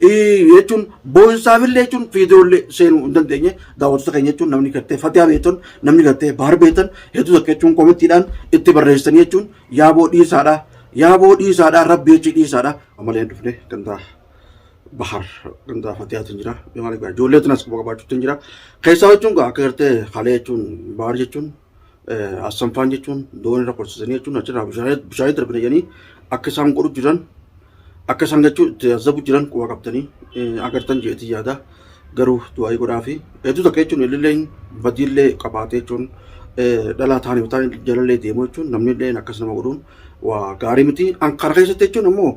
jechuun boonsaafillee jechuun viidiyoollee seenuu hin dandeenye daawwattoota keenya jechuun namni gartee fatiyaa beektan namni gartee baar beektan hedduu takka jechuun komittiidhaan itti barreessanii jechuun yaaboo dhiisaadha yaaboo dhiisaadha rabbi jechi dhiisaadha amalee dhufne gandaa bahar gandaa fatiyaatiin jira ijoollee tunas quba qabaachuutiin jira keessaa jechuun akka gartee halee jechuun baar jechuun Assanfaan jechuun doon irra qorsisanii jechuun achirraa bishaanii darbina jedhanii akka isaan godhu jiran akka isaan jechuun itti azabu jiran quba qabtanii agartan jeetii yaada garuu du'aayii godhaa fi hedduu takka jechuun illee badiillee qabaatee jechuun dhalaa taanii bitaan jalallee deemu jechuun namni illee akkas nama godhuun waa gaarii miti an kana keessatti jechuun ammoo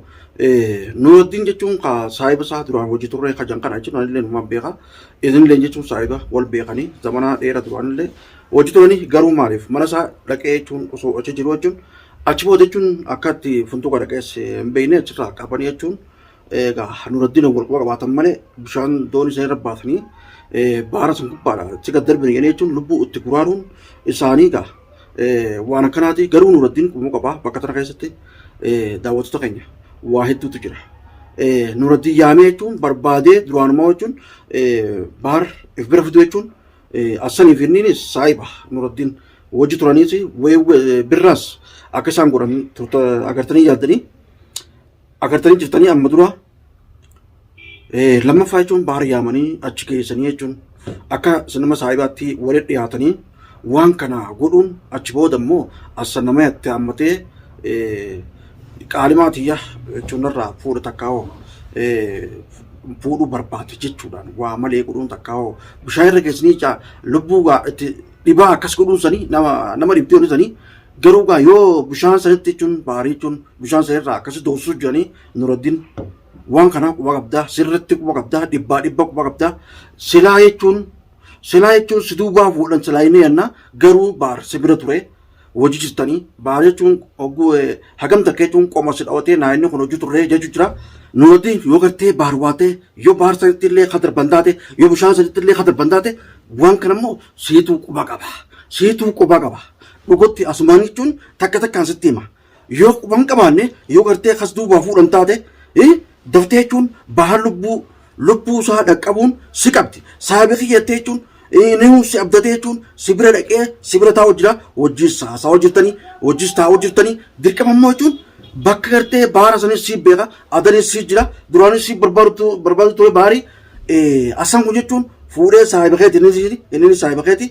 nuuraddiin jechuun ka saahiba isaa duraan hojii turree ka jan kana jechuun anillee numaan beeka isinillee jechuun saahiba wal beekanii zamanaa dheera duraanillee Hojjetooni garuu maaliif mana isaa dhaqee jechuun osoo achi jiru jechuun achi booda jechuun akka itti funtuuqa dhaqees hin beekne achirraa qabanii jechuun egaa Nuraddiin wal quba qabaatan malee bishaan doonii sana irra baatanii baara sun gubbaadha achi gad darbine jedhanii jechuun lubbuu itti guraaruun isaanii egaa waan akkanaati garuu Nuraddiin qubuu qabaa bakka tana keessatti daawwattoota keenya waa hedduutu jira. Nuraddiin yaamee jechuun barbaadee duraanumaa jechuun baar if bira fiduu jechuun Assanii fi inniinis saahiba Nuraddiin wajji turaniis weewwe birraas akka isaan godhan turta agartanii yaaddanii agartanii jirtanii amma dura lammaffaa jechuun baara yaamanii achi keessanii jechuun akka sinima saahibaatti walitti dhiyaatanii waan kana godhuun achi booda immoo assa nama yatte hammatee qaalimaa tiyya jechuun irraa fuudha takkaa hoo fuudhuu barbaadu jechuudhaan waa malee godhuun takkaa hoo bishaan irra geessanii ijaa lubbuu gaa itti dhibaa akkas godhuun sanii nama nama dhibdee oluu sanii garuu gaa yoo bishaan sanitti jechuun baarii jechuun bishaan sanirraa akkasi doorsisuu jiranii nuraddiin waan kanaa quba qabdaa sirritti quba qabdaa dhibbaa dhibba quba qabdaa silaa jechuun silaa jechuun si duubaa fuudhan silaa inni yennaa garuu baar si bira ture hojii jirtanii baara jechuun hogguu eh, hagam takka jechuun qoma si dhawatee naa inni kun hojii turree jechuu jira. Nuti yoo gartee baar waatee yoo baar sanitti illee ka darban taate yoo bishaan sanitti illee ka darban taate waan kana immoo siituu quba qaba. Siituu quba qaba. Dhugatti asumaan jechuun takka takkaan sitti hima. Yoo quba hin qabaanne yoo gartee kas duubaa fuudhan taate eh, daftee jechuun baha lubbuu lubbuu isaa dhaqqabuun si qabdi. Saahiba kiyya jettee jechuun eh, nihuu si abdatee jechuun si bira dhaqee si bira taa'u jira. Hojiis haasawaa jirtanii hojiis taa'u jirtanii dirqama immoo jechuun bakka gartee baara sanis si beeka adanis si jira duraanis si barbaadu tu- barbaadu ture baarii eh, asan kun jechuun fuudhee saahiba keeti innis innis saahiba keeti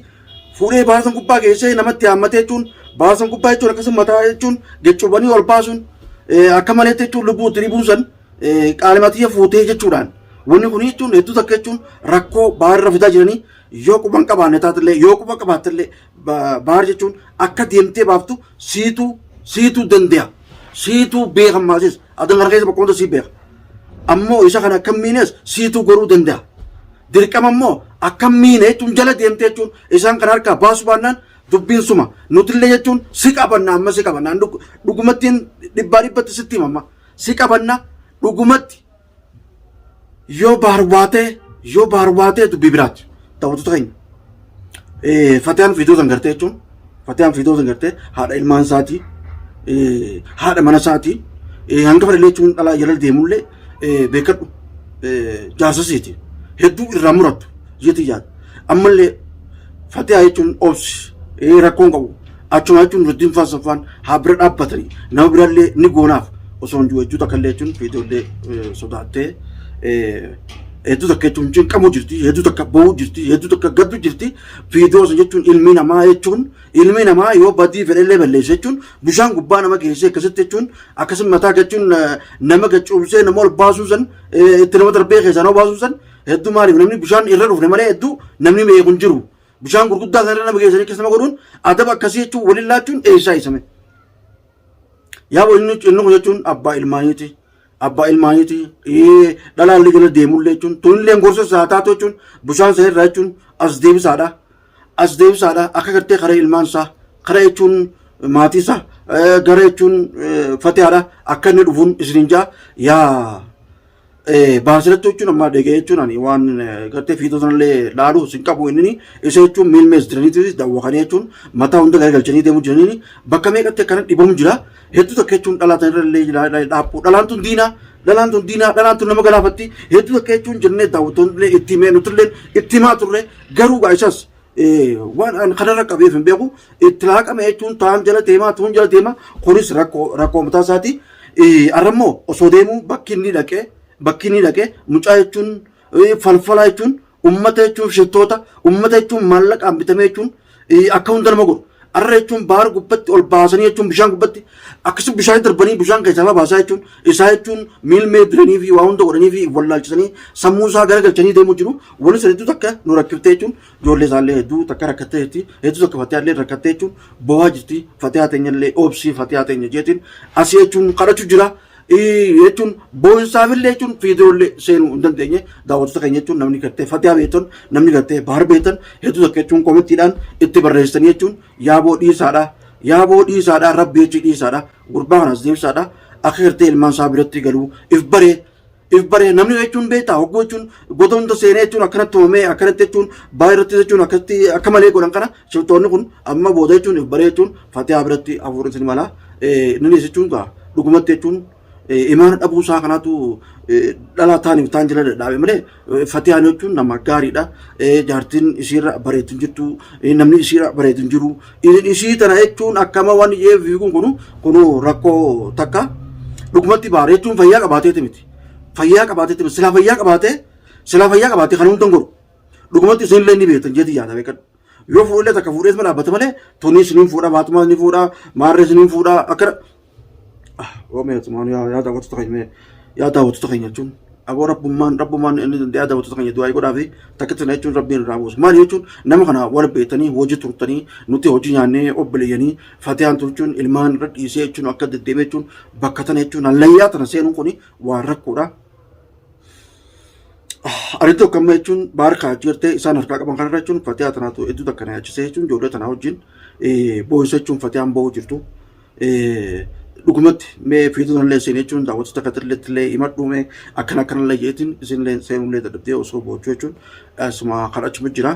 Fuudhee baarsan gubbaa geessee namatti haammatee jechuun baarsan gubbaa jechuun akkasuma mataa jechuun geccubanii ol baasuun akka maleetti jechuun lubbuu itti ribuun san qaalimatiyya fuutee jechuudhaan wanni kun jechuun hedduu takka jechuun rakkoo baarra fidaa jiranii yoo quban qabaanne taatellee yoo quba qabaattellee baar jechuun akka deemtee baaftu siituu siituu dande'a siituu beekan maasis adan kana keessa bakka hunda sii beeka ammoo isa kana akkamiinis siituu goruu danda'a. dirqama immoo akkam miine jechuun jala deemte jechuun isaan kan harkaa baasu baannaan dubbiin suma nutillee jechuun si qabanna amma si qabanna dhugumattiin dhibbaa dhibbatti sitti himamma si qabanna dhugumatti yoo baarbaatee yoo baarbaatee dubbii biraatti ta'utu ta'in. Fatiyaan viidiyoo san gartee jechuun Fatiyaan viidiyoo san gartee haadha ilmaan isaatii haadha mana isaatii hanga fadhilee jechuun dhalaa jala deemullee beekadhu jaarsa isiiti hedduu irraa murattu jeetii yaada ammallee Fatiyaa jechuun obsi rakkoon qabu Achuma jechuun Nurdiin Faan Soffaan haa bira dhaabbatanii nama birallee ni goonaaf osoo hin jiru takka illee jechuun fiitoollee sodaattee hedduu takka jechuun cinqamuu jirti hedduu takka ba'uu jirti hedduu takka gaddu jirti fiidoo sun jechuun ilmi namaa jechuun ilmi namaa yoo badii fedhellee balleessa jechuun bishaan gubbaa nama geessee akkasitti jechuun akkasuma mataa jechuun nama gacuubsee nama ol baasuu san itti nama darbee keessaa nama baasuu san hedduu maaliif namni bishaan irra dhufne malee hedduu namni beeku hin jiru. Bishaan gurguddaa sana irra nama geessanii keessa nama godhuun adaba akkasii jechuun waliin laachuun eessaa isame. Yaa boo inni inni kun jechuun abbaa ilmaaniiti. Abbaa ilmaaniiti. Ee, Dhalaan ligala deemullee jechuun tunillee gorsa isaa taatu jechuun bishaan sana irraa jechuun as deebisaadha. As deebisaadha akka gartee karaa ilmaan isaa karaa jechuun maatii isaa eh, gara jechuun eh, fatihaadha akka inni dhufuun isiniin ja'a yaa Baasiratti jechuun amma dhagee jechuun ani waan gartee fiitoo sanallee laaluu sin qabu inni isa jechuun miil mees jiraniitis daawwakanii jechuun mataa hunda garagalchanii deemuu jiranii bakka meeqatti akkana dhibamu jira hedduu takka jechuun dhalaa tanirrallee dhaabbuu dhalaan tun diinaa dhalaan tun diinaa dhalaan tun nama galaafatti hedduu takka jechuun jennee daawwattoonillee itti himee nutillee itti himaa turre garuu gaa isas waan an kanarra qabeef hin beeku itti laaqame jechuun taan jala deemaa tuun jala deemaa kunis rakkoo rakkoo mataa isaati. Arrammoo osoo deemuu bakki inni dhaqee bakki inni dhaqee mucaa jechuun falfalaa jechuun ummata jechuun shittoota ummata jechuun maallaqaan bitamee jechuun akka hunda nama godhu. Arra jechuun baar gubbatti ol baasanii jechuun bishaan gubbatti akkasuma bishaan darbanii bishaan keessaa baasaa jechuun isaa jechuun miilmee diranii fi waa hunda godhanii fi wallaalchisanii sammuu isaa garagalchanii deemuu jiru. Waliin hedduu takka nu rakkifte jechuun ijoollee isaallee hedduu takka rakkattee jirti. Hedduu takka fatiyaallee rakkattee jechuun boo'aa jirti. Fatiyaa teenyallee obsii fatiyaa teenya jeetiin asii jechuun kadhachuu jira. jechuun boonsaafillee jechuun fiidiyoollee seenuu hin dandeenye daawwattoota keenya jechuun namni gartee fatiyaa beektan namni gartee bahar beektan hedduu takka jechuun komittiidhaan itti barreessanii jechuun yaaboo dhiisaadha yaaboo dhiisaadha rabbi jechii dhiisaadha gurbaa kanas deebisaadha akka gartee ilmaan isaa biratti galuu if baree if baree namni jechuun beektaa hogguu jechuun goota hunda seenee jechuun akkanatti hoomee akkanatti jechuun baay'ee irratti jechuun akkatti akka malee godhan kana shiftoonni kun amma booda jechuun if baree jechuun fatiyaa biratti hafuurri isin mala inni dhiyeessi jechuun gaa dhugumatti jechuun imaana dhabuu isaa kanaatu dhalaa taaniif taan jala dadhaabe malee Fatiyaan jechuun nama gaariidha. Jaartiin isiirra bareedu hin jirtu. Namni isiirra bareedu hin jiru. Isii tana jechuun akkama waan ijee fiiguun kunu kunu rakkoo takka. Dhugumatti baara jechuun fayyaa qabaateeti miti. Fayyaa qabaateeti miti. Silaa fayyaa qabaatee silaa fayyaa qabaatee kan hundan godhu. Dhugumatti isinillee ni beektan jeeti yaada beekadhu. Yoo fuudhillee takka fuudhees ma dhaabbata malee toniis ni fuudha baatumaas ni fuudha maarrees ni fuudha akkana. Oomee asumaan yaa yaa daawwattoota keenya mee yaa daawwattoota keenya jechuun aboo rabbummaan rabbummaan inni yaa daawwattoota keenya du'aa godhaa fi takkitti na jechuun rabbiin irraa buusu maal jechuun nama kana wal beektanii hojii turtanii nuti hojii nyaannee obboleeyyanii fatiyaan turchuun ilmaan irra dhiisee jechuun akka deddeemee jechuun bakka tana jechuun hallayyaa tana seenuun kun waan rakkoodha Ani tokko amma jechuun baarkaa achi gartee isaan harkaa qaban kanarra jechuun fatiyaa tanaatu hedduu takka na yaachisee jechuun ijoollee tanaa wajjin boo'isa jechuun fatiyaan boo'u jirtu. Dhugumatti mee fiixuun illee seenee jechuun daawwattoota katillee illee himadhuu mee akkana akkana illee jeetiin isinillee seenuu illee dadhabdee osoo boo'achuu jechuun asuma kan achuma jira.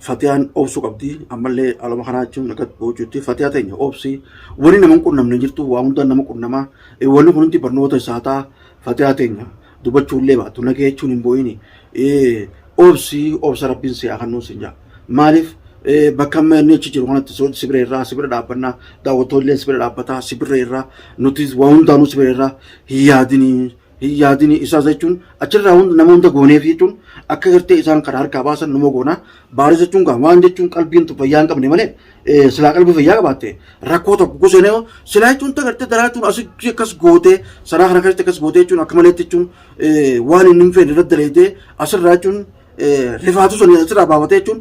Fatiyaan obsuu qabdi ammallee haaluma kanaa jechuun akka boojuutti fatiyaa teenya obsii wani nama hin qunnamne jirtu waa hundaan nama qunnama Eh, wanni kun hundi barnoota isaa ta'a fatiyaa teenya dubachuullee baatu nagee jechuun hin boo'ini Eh, obsii obsa rabbiin si haa kennuu sin jaa maaliif eh, bakka amma inni achi jiru kanatti so- sibira irraa sibira dhaabbannaa daawwattoolleen sibira dhaabbataa sibira irraa nutis waa hundaanuu sibira irraa hin yaadinii hin yaadini isaas jechuun achirraa hunda nama hunda gooneef jechuun akka gartee isaan kana harkaa baasan numa goonaa baaris jechuun gaa waan jechuun qalbiin tu fayyaa hin qabne malee eh, silaa qalbii fayyaa qabaatte rakkoo tokko kusenee silaa jechuun ta gartee daraa jechuun asitti akkas gootee saraa kana keessatti akkas gootee jechuun akka maleetti jechuun eh, waan inni hin fedhe irratti daleetee asirraa jechuun rifaatu sun asirraa baafate jechuun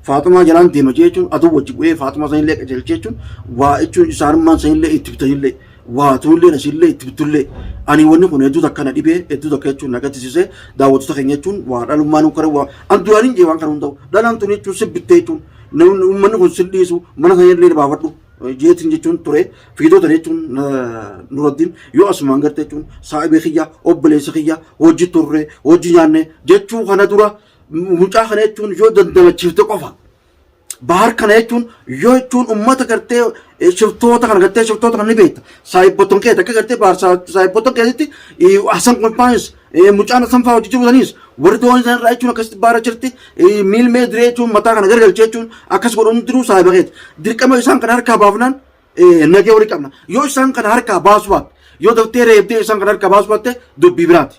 faaxumaa jalaan deema jechuun aduu wajji bu'ee faaxumaa sanillee qajeelche jechuun waa jechuun isaanummaan sanillee itti bitanillee waa tuullee nasillee itti bitullee ani wanni kun hedduu takka na dhibee hedduu takka jechuun na gaddisiisee daawwattoota keenya jechuun waa dhalummaan nu kare waa an duraan hin jee waan kana hunda'u dhalaan tun jechuun sibbittee jechuun uummanni kun sildhiisu mana sanillee baafadhu jeetiin jechuun ture fiigdota jechuun nuraddiin yoo asumaan garte jechuun saa'ibee kiyya obboleessa kiyya hojii turre hojii nyaanne jechuu kana dura mucaa kana jechuun yoo dandamachiifte qofa bahar kana jechuun yoo jechuun ummata gartee shiftoota kana gartee shiftoota kana ni beekta saa'ibbotan kee takka gartee bahar saa'ibbotan keetitti hasan kolfaanis Mucaan Hassan fa'aa hojii jiru saniis warri doonii sana irraa jechuun akkasitti baara jirti miilmee diree jechuun mataa kana gargalchee jechuun akkas godhuun diruu saahiba keeti. Dirqama isaan kana harkaa baafnaan nagee walii qabna. Yoo isaan kana harkaa baasu baatte yoo daftee reebdee isaan kana harkaa baasu baatte dubbii biraati.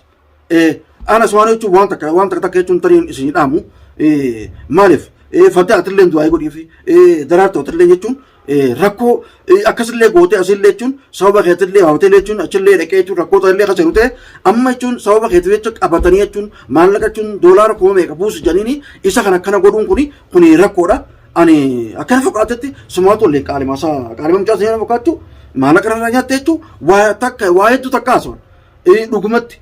Anas waan jechuun waan takka waan takka takka jechuun tariin isin dhaamu maaliif fataa atillee du'aa godhiifi daraartoo atillee jechuun rakkoo akkasillee gootee asillee jechuun sababa keetillee hawatelee jechuun achillee dhaqee jechuun rakkoo ta'ellee kan ta'e amma jechuun sababa keetii jecha qabatanii jechuun maallaqa jechuun doolaara kuma meeqa buusu jedhaniini isa kan akkana godhuun kuni kuni rakkoodha. Ani akkana fakkaatutti sumaa tollee qaalima isaa qaalima mucaa seenaa fakkaattu maallaqa irraa nyaatte jechuun waa takka waa hedduu takka haasawaan dhugumatti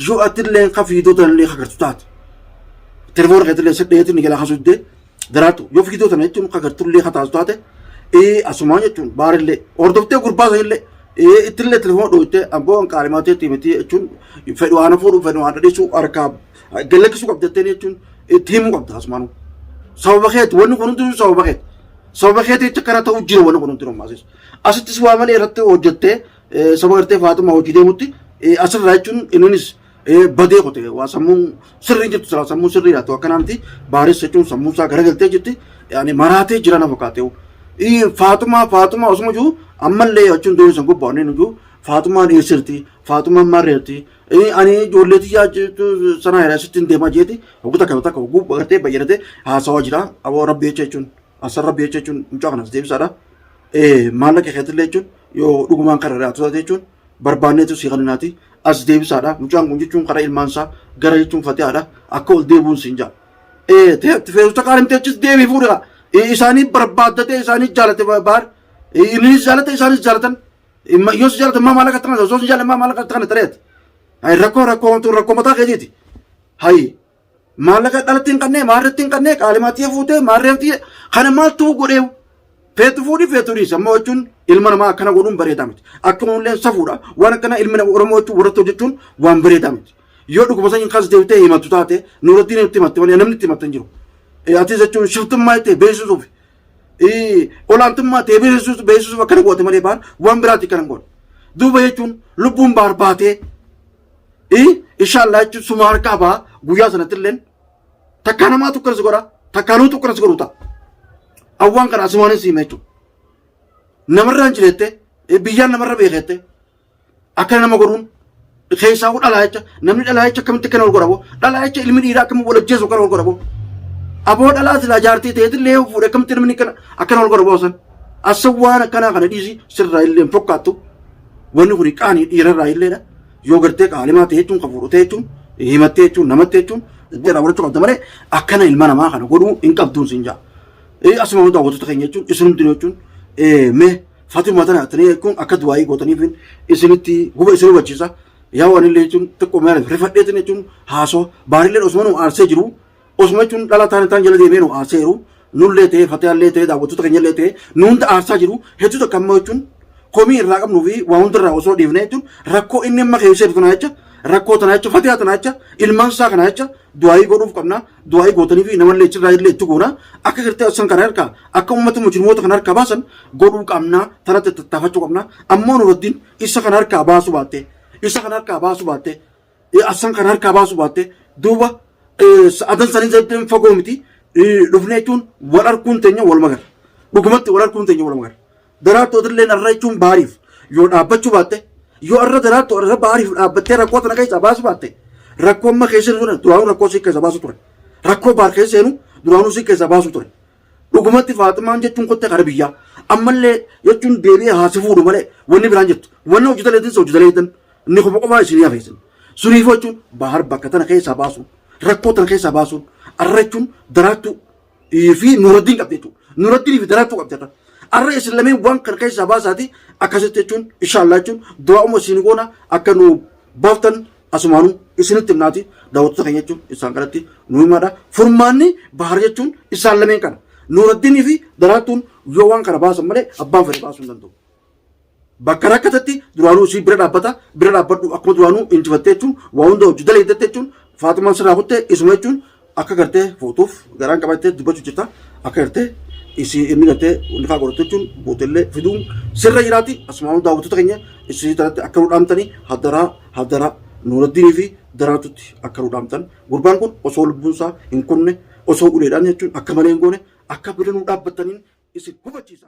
yoo atillee kan fiidota illee hagartu taate. Telefoona keetillee saddeetiin ni galaa kan suddee Daraartu yoo fiigdoo tana jechuun akka gartullee kataasu taate ee asumaa jechuun baarillee hordoftee gurbaa sanillee ee ittillee telefoona dhooytee abboo an qaalimaa teetti miti jechuun fedhu waan fuudhu fedhu waan dhadhiisuu harkaa gallakkisuu qabda jettee jechuun itti himuu qabda asumaan sababa keetti wanni kun hundinuu sababa keetti sababa keetti jecha kana ta'uu jira wanni kun hundinuu maasisu asittis waa malee irratti hojjettee sababa gartee faatumaa hojii deemutti asirraa jechuun inninis badee qote waa sammuu sirrii jirtu silaa sammuu sirrii laatu akkanaa miti baareessa jechuun sammuu isaa garagaltee jirti yaani maraatee jira na fakkaate faatumaa faatumaa osuma jiru ammallee jechuun doonii san gubbaa onneen jiru faatumaan dhiyeessirti faatumaan marreerti ani ijoollee tiyyaa sanaa jedhaa sittiin deemaa jeeti hogguu takka takka hogguu bartee bayyanatee haasawaa jira aboo rabbi jecha jechuun asar rabbi jecha jechuun mucaa kanas deebisaadha maallaqa keetillee jechuun yoo dhugumaan kan irraa tutate jechuun barbaanneetu sii kaninaati as deebisaadha mucaan kun jechuun karaa ilmaan isaa gara jechuun fatihaadha akka ol deebuun siin jaa ee teetti feesuta kaan himtee achis deebii fuudha isaanii barbaaddatee isaanii jaalate baar innis jaalate isaanis jaalatan yoo si jaalatan maa maallaqa itti kanata osoo si jaalatan maa maallaqa itti kanata reet rakkoo rakkoo rakkoo mataa keetiiti hayi Maallaqa dhalatti hin qabne, maarreetti hin qabne, qaalimaatti fuutee, maarreetti kana maaltu godhee feetu fuudhi feetu dhiisi. Amma jechuun ilma namaa akkana godhuun bareedaa miti. Akkuma illee safuudha. Waan akkana ilmi nama Oromoo jechuun warratti hojjechuun waan bareedaa miti. Yoo dhuguma sanyii kaas deebitee himattu taate nuurattiin itti himatte malee namni itti himatte hin jiru. Atis jechuun shiftummaa itti beeksisuuf olaantummaa ta'e beeksisuuf beeksisuuf akkana goote malee baan waan biraatti kan hin goone. Duuba jechuun lubbuun baarbaatee i inshallah jechuun suma harkaa ba'a guyyaa sanatti illeen takkaa namaa tokkoon si godha takkaa nuu tokkoon si godhu ta'a awwaan kana asumaanin siima jechuudha namarraa hin jireette biyyaan namarra beekeette akkana nama godhuun keessaa hoo dhalaa jecha namni dhalaa jecha akkamitti akkana wal godhabo dhalaa jecha ilmi dhiiraa akkamitti wal ajjeesu akkana wal godhabo aboo dhalaa silaa jaartii ta'eetti illee yoo fuudhe akkamitti namni akkana akkana wal godhabo san asawwaan akkanaa kana dhiisi sirraa illee hin fokkaattu Wanni kuni qaanii dhiirarraa illeedha. Yoo gartee qaalimaa ta'e jechuun kan fuudhu ta'e jechuun himattee jechuun namatti jechuun irraa godhachuu qabda malee akkana ilma namaa kana godhuu hin qabduun siin jaa. Asuma hunda hawwattoota keenya jechuun isinumti jechuun mee Fatima tana tana jechuun akka du'aayii gootaniif isinitti guba isin hubachiisa. Yaa waan illee jechuun xiqqoo meera rifadheetiin jechuun haasoo baarillee osuma nu aarsee jiru Osuma jechuun dhala taane taan jala deemee nu aarsee jiru nullee ta'ee fatiyaallee ta'ee daawwattoota keenyallee ta'ee nu hunda aarsaa jiru hedduu takka amma jechuun komii irraa qabnuu fi waa hundarraa osoo dhiifnee jechuun rakkoo inni amma keessa jiru tanaa jecha rakkoo tanaa jecha fatiyaa tanaa jecha ilmaan isaa kanaa jecha du'aayii godhuuf qabna du'aayii gootanii fi namallee achirraa illee itti goona akka gartee asan kana harkaa akka uummata mujrimoota kana harkaa baasan godhuu qabna tanatti tattaafachuu qabna ammoo nurattiin isa kana harkaa baasuu baatte isa kana harkaa baasuu baatte eh, absan kan harkaa baasu baatte duuba eh, sa'adan sanii zaddeen fagoo miti eh, dhufne jechuun wal arguun teenya wal magarra dhugumatti wal arguun teenya wal magarra daraartu odillee narra jechuun baariif yoo dhaabbachuu baatte yoo arra daraartu arra baariif dhaabbattee rakkoo tana keessaa baasu baatte rakkoo amma keessa jiru duraanuu rakkoo si keessa baasu ture rakkoo baar keessa seenu duraanuu si keessa baasu ture Dhugumatti Faaximaan jechuun kottee kara biyyaa. Ammallee jechuun deebi'ee haa si fuudhu malee wanni biraan jettu. Wanni hojjetan eetin hojjetan eetan ni kofa qofaa isinii hafeessan. Suniif jechuun bahar bakka tana keessaa baasuun rakkoo tana keessaa baasuun arra jechuun daraartuu fi nuraddiin qabdi jechuudha. Nuraddiin fi daraartuu qabdi arra. Arra isin lameen waan kana keessaa baasaati akkasitti jechuun inshaallah jechuun du'aa umma isin goona akka nu baaftan Asumaanuu isinitti himnaati daawwattoota keenya jechuun isaan kanatti nu himaadha. Furmaanni bahar jechuun isaan lameen kana. Nuuraddiinii fi daraartuun yoo waan kana baasan malee abbaan fedhe baasuu hin danda'u. Bakka rakkatatti duraanuu isii bira dhaabbata bira dhaabbadhu akkuma duraanuu injifattee jechuun waa hunda hojii daleeddatte jechuun Faatumaan sirraa kuttee isuma jechuun Akka gartee fuutuuf garaan qabattee dubbachuu jirta. Akka gartee isii inni gartee nifaa godhattu jechuun gootellee fiduun sirra jiraati. Asumaan daawwattoota keenya isii tanatti akka nu dhaamtanii hadaraa hadaraa Nuuraddiinii fi Daraartutti akka nu dhaamtan. Gurbaan kun osoo lubbuun isaa hin kunne osoo uleedhaan jechuun akka malee hin goone akka bira nu dhaabbattaniin isin hubachiisa.